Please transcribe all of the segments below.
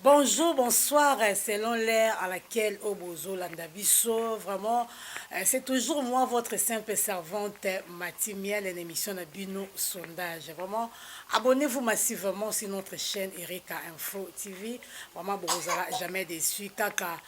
Bonjour bonsoir selon l'heure à laquelle oyo bozo landa biso vraiment c'est toujours moi votre simple servante Mati Miel en émission na bino sondage vraiment abonnez-vous massivement sur notre chaîne Erika Info TV vraiment bokozala jamais déçu kaka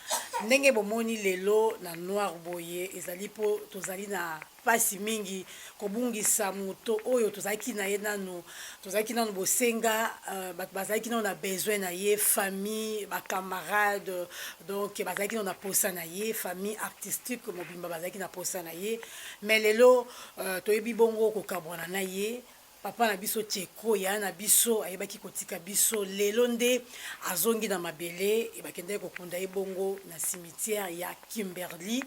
ndenge bomoni lelo na noir boye ezali po tozali na mpasi mingi kobungisa moto oyo tozalaki na ye nano tozalaki nano bosenga uh, bato bazalaki nano na besoin na ye famille bacamarade donc bazalaki nano na posa na ye famille artistique mobimba bazalaki na posa na ye mais lelo uh, toyebi bongo kokabwana na ye Papa na biso Tsheko yaya na biso ayebaki kotika biso lelo nde azongi na mabele ebakendaki kokunda ye bongo na cimetière ya Kimberly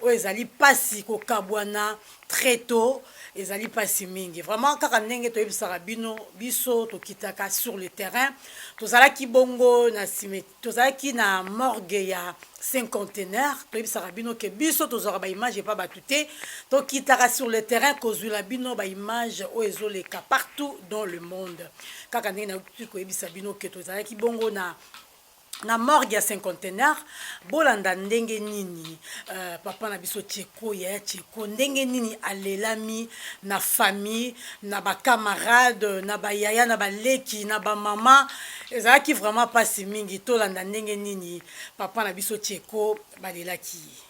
oyo ezali pasi kokabwana très tôt ezali pasi mingi vraiment kaka ndenge toyebisaka bino biso tokitaka sur le terrain tozalaki bongo na cimetière tozalaki na morgue ya cinquantenaire toyebisaka bino ke biso tozwaka baimage epa bato te tokitaka sur le terrain kozwila bino baimage oyo ezoleka partout dans le monde kaka ndenge nayoki koyebisa bino ke tozalaki bongo na na morgue ya cinquantenaire bolanda ndenge nini uh, papa na biso tsheko Ko yaya cheko ndenge nini alelami na famille na ba camarade na ba yaya na ba leki na ba mama ezalaki vraiment pasi mingi tolanda ndenge nini papa na biso cheko balelaki ye.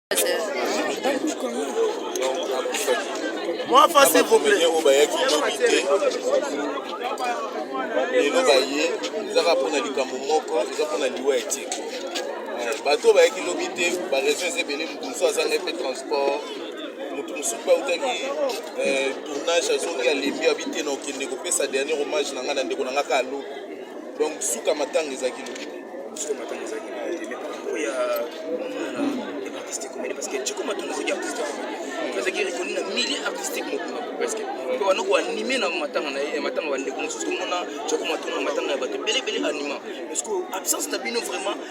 Moi, face, s'il vous plaît. lelo baye ezaka mpona likambo moko eza mpona liwa ya tike bato oyo bayaki lobi te baregion eza ebele moto mosusu azanga mpe transport moto mosusu mpe autaki eh, tournage azongi alembi abi te na okende kopesa dernier hommage na ngai na ndeko na ngai ka alobi Donc suka matanga ezalaki lobi te. Suka matanga ezalaki lobi te. Mais pour ya na artiste comédien parce que Chico Matanga azaki artiste azalaki reconnu na milieu artistique mobimba presque mpe wana koanime na matanga na ye matanga bandeko mosusu tomona Chico Matanga matanga ya bato ebele ebele anima parce que absence na bino vraiment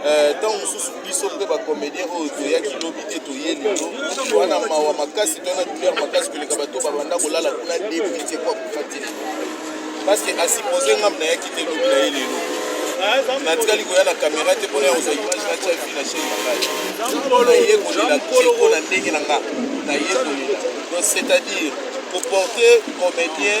Eh, ntango uh, mosusu biso mpe bacomédien oyo toyaki lobi te toye lelo wana mawa makasi to na douleur makasi koleka bato babanda kolala kuna depuis te kwa kufa te parce que asupose ngam nayaki te lobi na ye lelo natikali koya na kamera te mpona yakozwa image natya vi na chaine nangai naye kolela teko na ndenge na nga naye kolela donc c'est-à-dire koporte comédien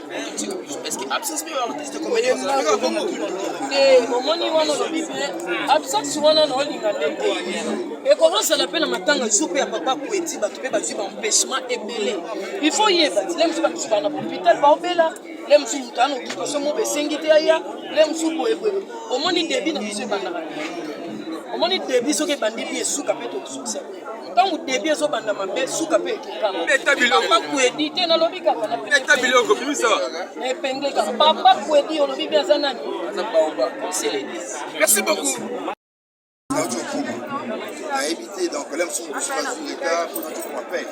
omoni wana olobi mpe absence wana na olinga nde te ekozala mpe na matanga jour mpe ya papa kueti bato mpe bazwi baempêchement ebele il faut yeba ti lemsu bato bana hôpital baobela le mosusu moto ana occupation mobe esengi te aya le mosusu boyeboye omoni debi na biso ebandaka omoni debi soki ebandi bi esuka mpe tokosukisa ntango debi ezobanda mabe suka mpe ekekabeta biloko kuedi te nalobi kaka nabeta biloko bimisa epenge kaka papa kuedi olobi mpe aza nani aza baoba conseil l'église merci beaucoup nayebi te donc la mosusu mosusu azwi retard mpona tokoma pene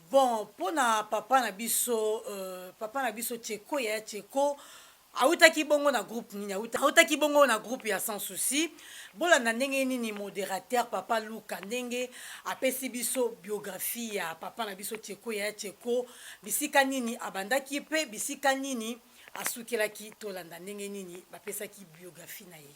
Bon pona papa na biso euh, papa na biso Tcheko yaya Tcheko awutaki bongo na groupe nini awutaki bongo na groupe ya sans souci bolanda ndenge nini modérateur papa luka ndenge apesi biso biographie ya papa na biso Tcheko yaya Tcheko bisika nini abandaki pe bisika nini asukelaki tolanda ndenge nini bapesaki biographie na ye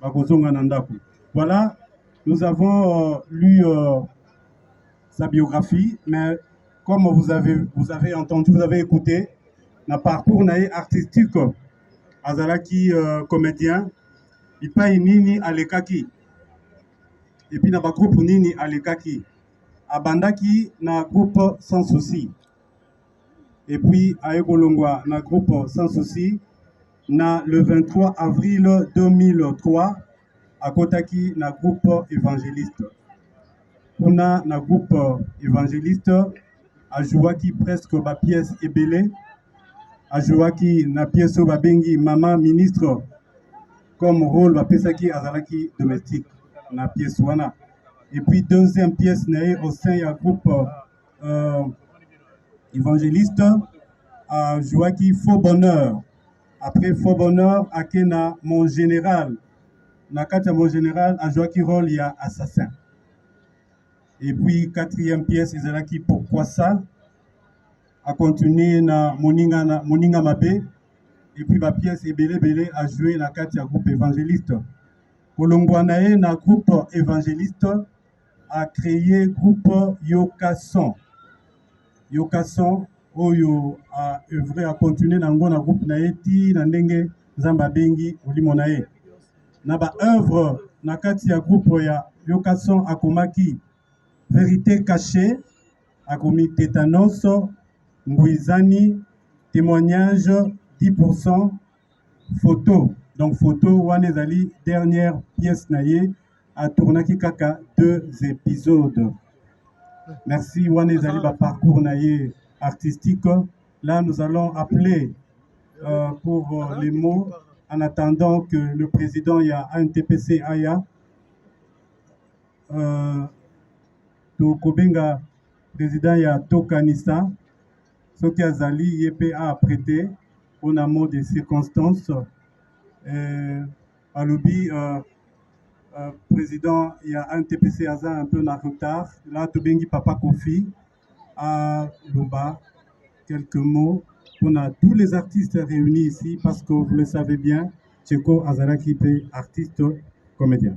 bakozonga na ndako voilà nous avons euh, lu euh, sa biographie mais comme vous avez, vous avez entendu vous avez écouté na parcours na ye artistique azalaki euh, comédien bipai nini alekaki epuis na bagroupe nini alekaki abandaki na groupe sans souci epuis aye kolongwa na groupe sans souci na le 23 avril 2003 akotaki na groupe évangéliste kuna na groupe évangéliste ajouaki presque bapièce ebele ajouaki na pièce oyo babengi mama ministre comme rôle bapesaki azalaki domestique na pièce wana et puis deuxième pièce na ye au sein ya groupe euh, évangéliste a joué qui faux bonheur après faux bonheur à Kena, mon général na kati mon général a joué qui rôle ya assassin et puis quatrième pièce qui pourquoi ça a continué na moninga na moninga mabe et puis ba pièce ebele ebele a joué na kati ya groupe évangéliste kolongwa na ye na groupe évangéliste a créé groupe Yoka Son. Yoka Son oyo a œuvre a continuer na ngo na groupe na ye ti na ndenge Nzambe abengi molimo na ye. Na ba œuvre na kati ya groupe ya Yoka Son akomaki Verité cachée, akomi Tetanos, Mbuizani, Témoignage 10%, photo donc photo wana ezali dernière pièce na ye atournaki kaka deux épisodes merci wana ezali ba parcours na ye artistique là nous allons appeler euh, pour euh, les mots en attendant que le président ya ANTPC aya euh, tokobenga président ya tokanisa soki azali ye mpe a prete mpo na mot de circonstance euh, alobi euh, euh, président ya ntpc aza un peu na retard la tobengi papa kofi aloba quelques mots mpo na tous les artistes réunis ici parce que vous le savez bien tcheko azalaki mpe artiste comédien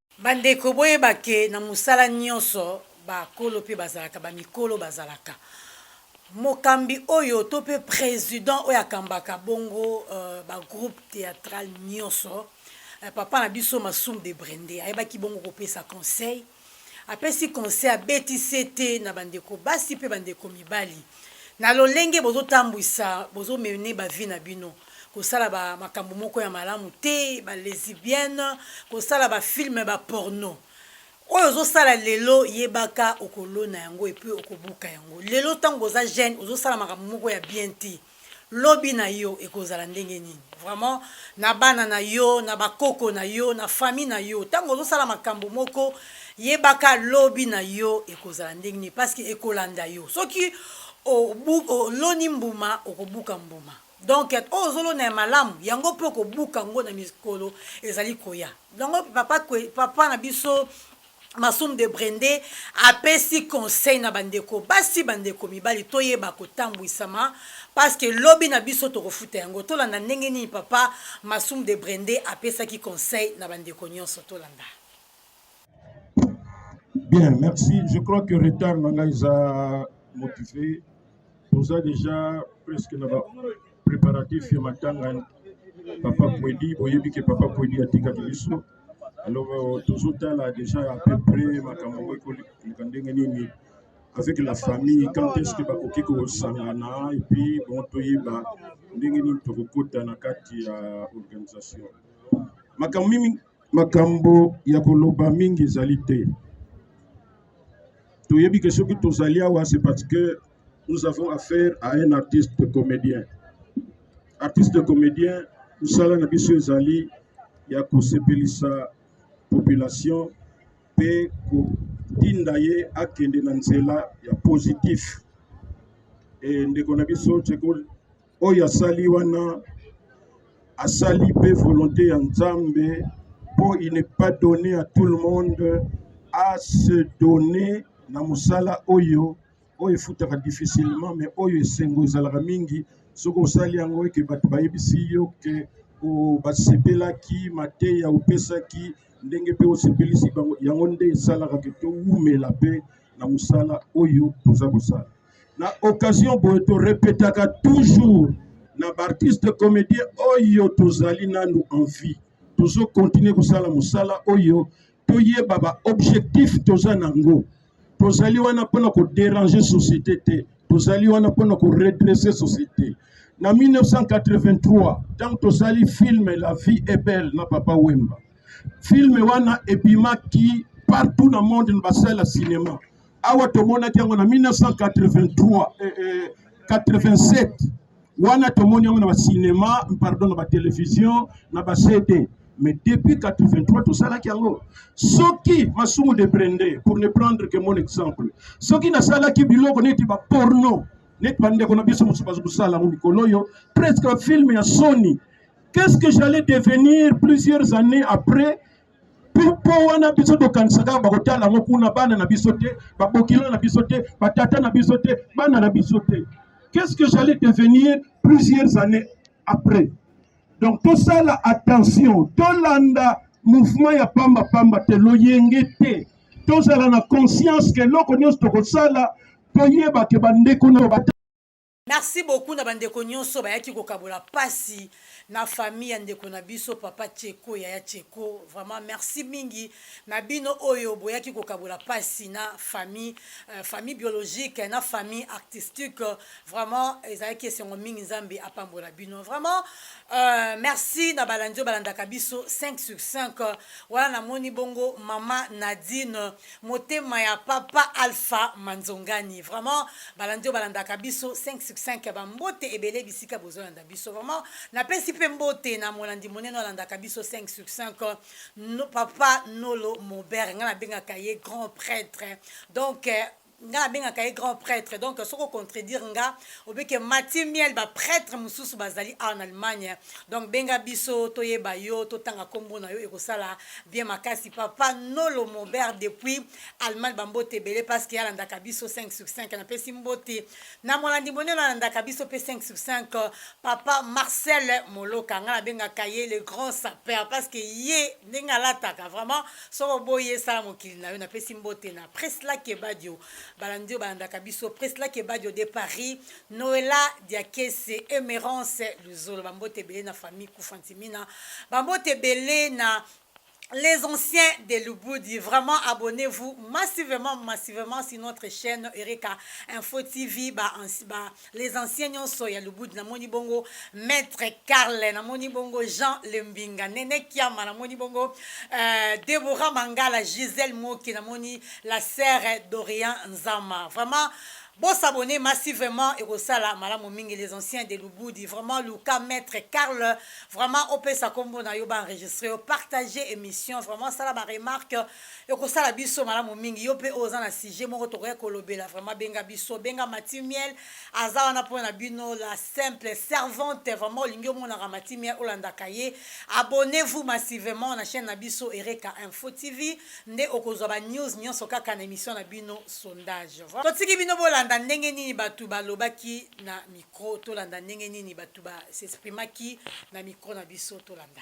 Ba ndeko boyeba ke na musala nionso ba kolo pe bazalaka ba mikolo bazalaka mokambi oyo to pe president oyo akambaka bongo ba groupe theatral nionso papa na biso masum de brende ayebaki bongo kopesa conseil apesi conseil abeti sete na ba ndeko basi pe ba ndeko mibali na lolenge bozo tambwisa bozo mene ba vie na bino kosala ba makambo moko ya malamu te ba lesibienne kosala ba filme ba porno oyo ozosala lelo yebaka okolona yango epe okobuka yango lelo ntango oza jeune ozosala makambo moko ya bien te lobi na yo ekozala ndenge nini vraiment na bana na yo na bakoko na yo na famille na yo ntango ozosala makambo moko yebaka lobi na yo ekozala ndenge nini parce que ekolanda yo soki oloni mbuma okobuka mbuma Donc oyo ozolona ya malamu yango mpe okobuka yango na mikolo ezali koya. Yango papa, papa na biso Masum de Brende apesi conseil na bandeko basi bandeko mibali toyeba kotambwisama parce que lobi na biso tokofuta yango. Tolanda ndenge nini papa Masum de Brende apesaki conseil na bandeko nyonso tolanda. Bien, merci. Je crois que retard na ngai eza motivé. Toza déjà presque na ba préparatif ya matanga papa Kwedi, boyebi ke papa Kwedi atikaki biso. Alors euh, tozotala déjà à peu près makambo oyo ekoleka ndenge nini avec la famille quand est-ce que bakoki kosangana et puis bon toyeba ndenge nini tokokota na kati ya organisation makambo mingi makambo ya koloba mingi ezali te toyebi ke soki tozali awa c'est parce que nous avons affaire à un artiste comédien artiste comédien mosala na biso ezali ya kosepelisa population mpe kotinda ye akende na nzela ya positif e ndeko na biso ceko oyo asali wana asali mpe volonté ya nzambe mpo il n'est pas donné à tout le monde à se donner na mosala oyo oyo efutaka difficilement mais oyo esengo ezalaka mingi soki osali yango eke bato bayebisi yo ke basepelaki mateya opesaki ndenge mpe osepelisi bango yango nde esalaka ke towumela mpe na mosala oyo toza kosala na occasion boye to repetaka toujours na baartiste comédien oyo tozali nanu en vie tozo continue kosala mosala oyo toyeba baobjectif toza na yango tozali wana mpona koderange société te tozali wana mpona koredresse société na 1983 ntango tosali filme la vie est belle na papa wemba filme wana ebimaki partout na monde na basala ya cinema awa tomonaki yango na 1983 eh, eh, 87 wana tomoni yango na bacinema pardon na batelevision na bacd mais depuis 83 tosalaki yango soki masumu de brende pour ne prendre que mon exemple soki nasalaki biloko neti baporno neti bandeko na biso mosusu bazo kosala yango mikolo oyo presque bafilme ya soni qu'est ce que j'allais devenir plusieurs années après mpo wana biso tokanisaka kaka bakotala yango kuna bana na biso te babokilo na biso te batata na biso te bana na biso te qu'est-ce que j'allais devenir plusieurs années après donc tosala attention tolanda mouvement ya pamba pamba te loyenge te tozala na conscience ke eloko nyonso tokosala toyeba ke bandeko na Merci beaucoup na ba ndeko nioso bayaki ko kabola pasi na famille ya ndeko na biso papa Tsheko yaya Tsheko vraiment merci mingi na bino oyo boyaki ko kabola pasi na famille euh, famille biologique na famille artistique vraiment ezalaki esengo mingi Nzambe apambola bino vraiment euh, merci na balandi oyo balandaka biso 5 sur 5 wana namoni bongo mama Nadine Motema ya papa alpha manzongani vraiment balandi oyo balandaka biso 5 sur 5 ya bambote ebele bisika bozolanda biso vraiment napesi mpe mbote na molandi monene alandaka biso 5 sur 5 no, papa nolo mobere ngai nabengaka ye grand prêtre donc eh, nga na bengaka ye grand prêtre donc soki ocontredire nga obi ke mati miel ba prêtre mosusu bazali awa na allemagne donc benga biso toyeba yo totanga nkombo na yo ekosala bien makasi papa nolo mobert depuis allemagne bambote ebele parce que alandaka biso 5 sur 5 napesi mbote na molandi monene alandaka biso mpe 5 sur 5 papa marcel moloka nga na bengaka ye le grand sapeur parce que ye ndenge alataka vraiment soki oboyi ye sala mokili na yo napesi mbote na presla kebadio balandi oyo balandaka biso presla kebadio de paris noela diakese emerance luzolo bambote ebele na famille kufantimina bambote ebele na les anciens de Lubudi. Vraiment, abonnez-vous massivement, massivement sur notre chaîne Eureka Info TV. Bah, bah, les anciens nyonso ya lubudi namoni bongo maître carle namoni bongo jean lembinga nene kiama namoni bongo euh, debora mangala gisele moki namoni la serre dorian nzama vraiment bosabone masi vraiment ekosala malamu mingi les anciens de lubudi vraiment luka maître carle vraiment opesa nkombo na yo baenregistre yo partage émission vraiment sala baremarque ekosala biso malamu mingi yo mpe oyo oza na sujet moko tokoki kolobela vraiment benga biso benga mati miel aza wana mpo na bino la simple servante vraiment olingi omonaka mati miel olandaka ye abonnez vous massivement na chaîne na biso ereka info tv nde okozwa ba news nyonso kaka na émission na bino sondage totiki bino bolanda ndenge nini bato balobaki na micro tolanda ndenge nini bato ba s'exprimaki na micro na biso tolanda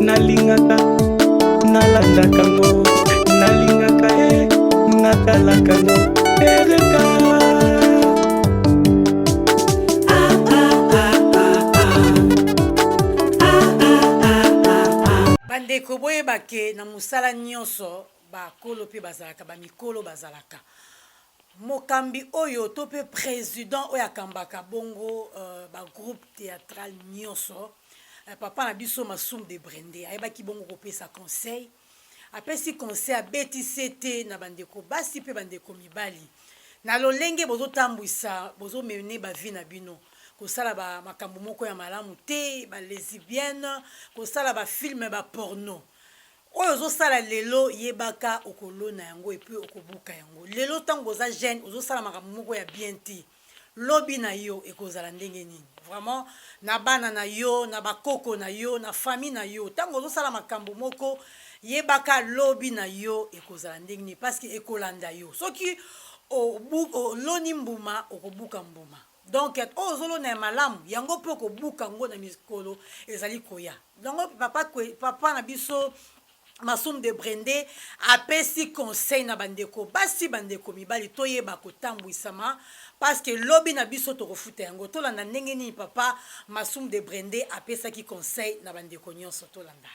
nalingaka nalandaka ngo nalingaka e natalaka ngo ereka bandeko boyeba ke na mosala nyonso bakolo mpe bazalaka bamikolo bazalaka mokambi oyo to mpe président oyo akambaka bongo uh, bagroupe théâtral nyonso Eh, papa na biso masum de brende ayebaki bongo kopesa conseil apesi conseil abeti sete na bandeko basi mpe bandeko mibali na lolenge bozotambwisa bozomene bavi na bino kosala ba makambo moko ya malamu te balesibienne kosala bafilme baporno oyo ozosala lelo yebaka okolona yango epuis okobuka yango lelo ntango oza jeune ozosala makambo moko ya bien te Lobi na yo ekozala ndenge nini? Vraiment na bana na yo, na ba koko na yo, na famille na yo. Tango ozo sala makambo moko, yebaka lobi na yo ekozala ndenge nini parce que ekolanda yo. Soki oloni mbuma, okobuka mbuma. Donc oyo ozo lona ya malamu, yango pe okobuka ngo na mikolo ezali koya. Donc papa papa na biso Masum de Brende apesi conseil na bandeko basi bandeko mibali toyeba kotambwisama parce que lobi na biso tokofuta yango tolanda ndenge nini papa Masum de Brende apesaki conseil na bandeko nyonso tolanda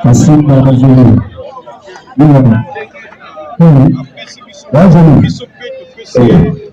Masum na bazulu Nina Nina Bazulu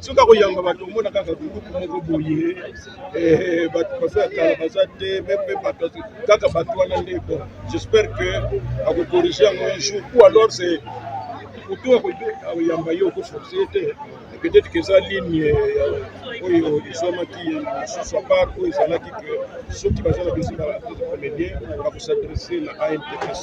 soki akoyamba bato omona kaka groupe moko boye eh, bato baza ya kala baza te meme bato kaka bato wana nde bon j'espère que akokorige yango un jour ou alors c'est kutu akoyamba ye okoforce ye te peut-être que eza ligne euh, oyo ezwamaki mosusu apart oyo ezalaki que soki baza na besoin ya comédien bakosadresse na antpc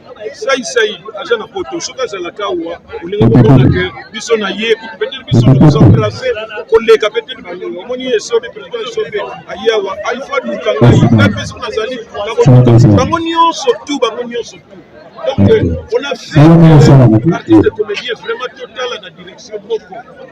sai sai aza na poto soki azalaka awa olingi komona ke biso na ye kutu peut-être biso toza place koleka peut-être bangonga omoni ye esobe président esobe aye awa alfa luka ngai ngai mpe soki nazali bango nyonso tu bango nyonso tu donc on a fait artiste comédien vraiment totala na direction moko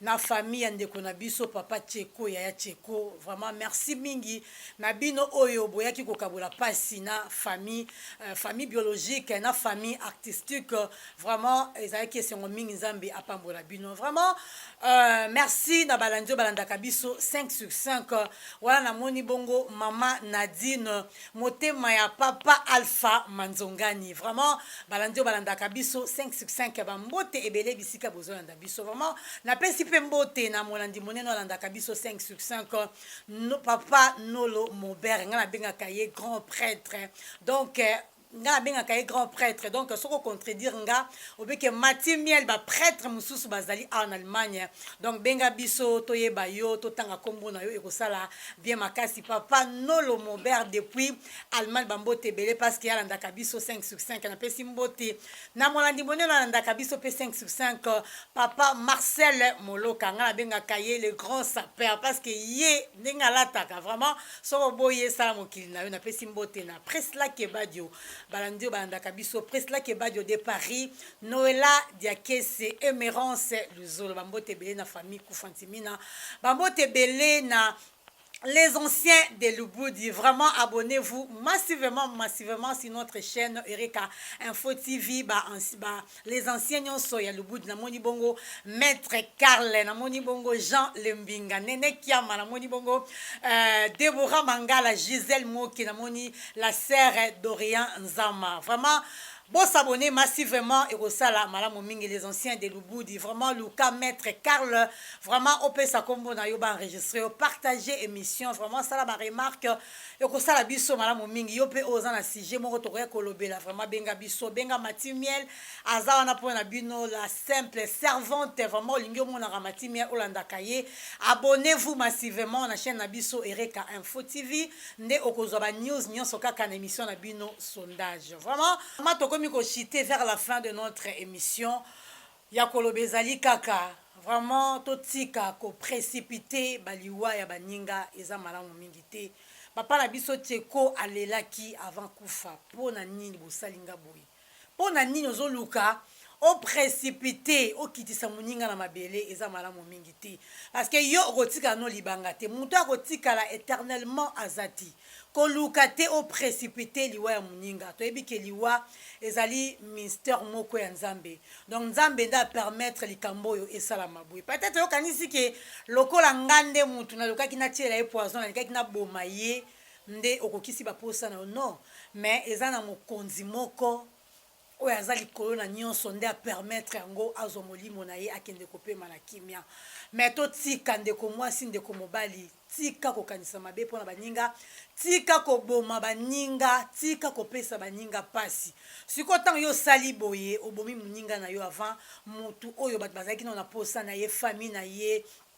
na famille ya ndeko na biso papa Tsheko yaya Tsheko vraiment merci mingi na bino oyo boyaki kokabola pasi na famille euh, famille biologique na famille artistique vraiment ezalaki esengo mingi nzambe apambola bino vraiment euh, merci na balandi oyo balandaka biso 5 sur 5 wana namoni bongo mama Nadine motema ya papa Alpha Manzongani vraiment balandi oyo balandaka biso 5 sur 5 bambote ebele bisika bozolanda na biso vraiment napesi mpe mbote na molandi monene alandaka biso 5 sur 5 no, papa nolo mobere ngai nabengaka ye grand prêtre donc eh, nga nabengaka ye grand prêtre donc soki ocontredire nga obeke mati miel baprêtre mosusu bazali awa na allemagne donc benga biso toyeba yo totanga nkombo na yo ekosala bien makasi papa nolo mobert depuis allemagne bambote ebele parce que alandaka biso 5 sur 5 napesi mbote na molandi monene alandaka biso mpe 5 sur 5 euh, papa marcel moloka ngai nabengaka ye le grand sapeur parce que ye ndenge alataka vraiment soki oboyi esala mokili na yo napesi mbote na presla kebadio balandi oyo balandaka biso presla kebadio de paris noela diakese emerance luzolo bambote ebele na famille kufantimina bambote ebele na les anciens de Lubudi, vraiment abonnez-vous massivement, massivement sur notre chaîne Erika Info TV, bah, bah, les anciens nyonso ya Lubudi, na moni bongo Maître Karl, na moni bongo Jean Lembinga, Nene Kiama, na moni bongo euh, Deborah Mangala, Gisèle Moki, na moni la sœur Dorian Nzama, vraiment Bo s'abonner masi vraiment ekosala malamu mingi les anciens de lubudi vraiment luka maitre carl vraiment opesa kombo na yo ba enregistre yo partager emission vraiment sala ba remarque ekosala biso malamu mingi yo pe oza na sujet moko tokoya kolobela vraiment benga biso benga mati miel aza wana po na bino la simple servante vraiment olingi omonaka mati miel olandaka ye abonnez vous massivement na chaîne na biso ereka info tv nde okozwa ba news nyonso kaka na emission na bino sondage vraiment ma tokomi kochite vers la fin de notre émission ya koloba ezali kaka vraiment totika koprecipite baliwa ya baninga eza malamu mingi te papa na biso tieko alelaki avant kufa mpo na nini bosali nga boye Pona nini ozo luka o precipite okitisa muninga na mabele eza malamu mingi te parce que yo okotikala no libanga te mutu ako tikala eternellement aza te koluka te o precipite liwa ya muninga toyebi ke liwa ezali minster moko ya nzambe donc nzambe nde a permettre likambo oyo esalama boye peut etre yo kanisi ke lokola nga nde mutu nalukaki natiela ye poison nalikaki naboma ye nde okokisi ba posa na yo non mais eza na mokonzi moko oyo aza likolo na nionso nde a permettre yango azwa molimo na ye akende kopema na kimia mais totika ndeko mwasi ndeko mobali tika kokanisa mabe mpo na baninga tika koboma baninga tika kopesa baninga mpasi sikoyo ntango yo osali boye obomi moninga na yo avant motu oyo bato bazalaki nao na posa na ye famille na ye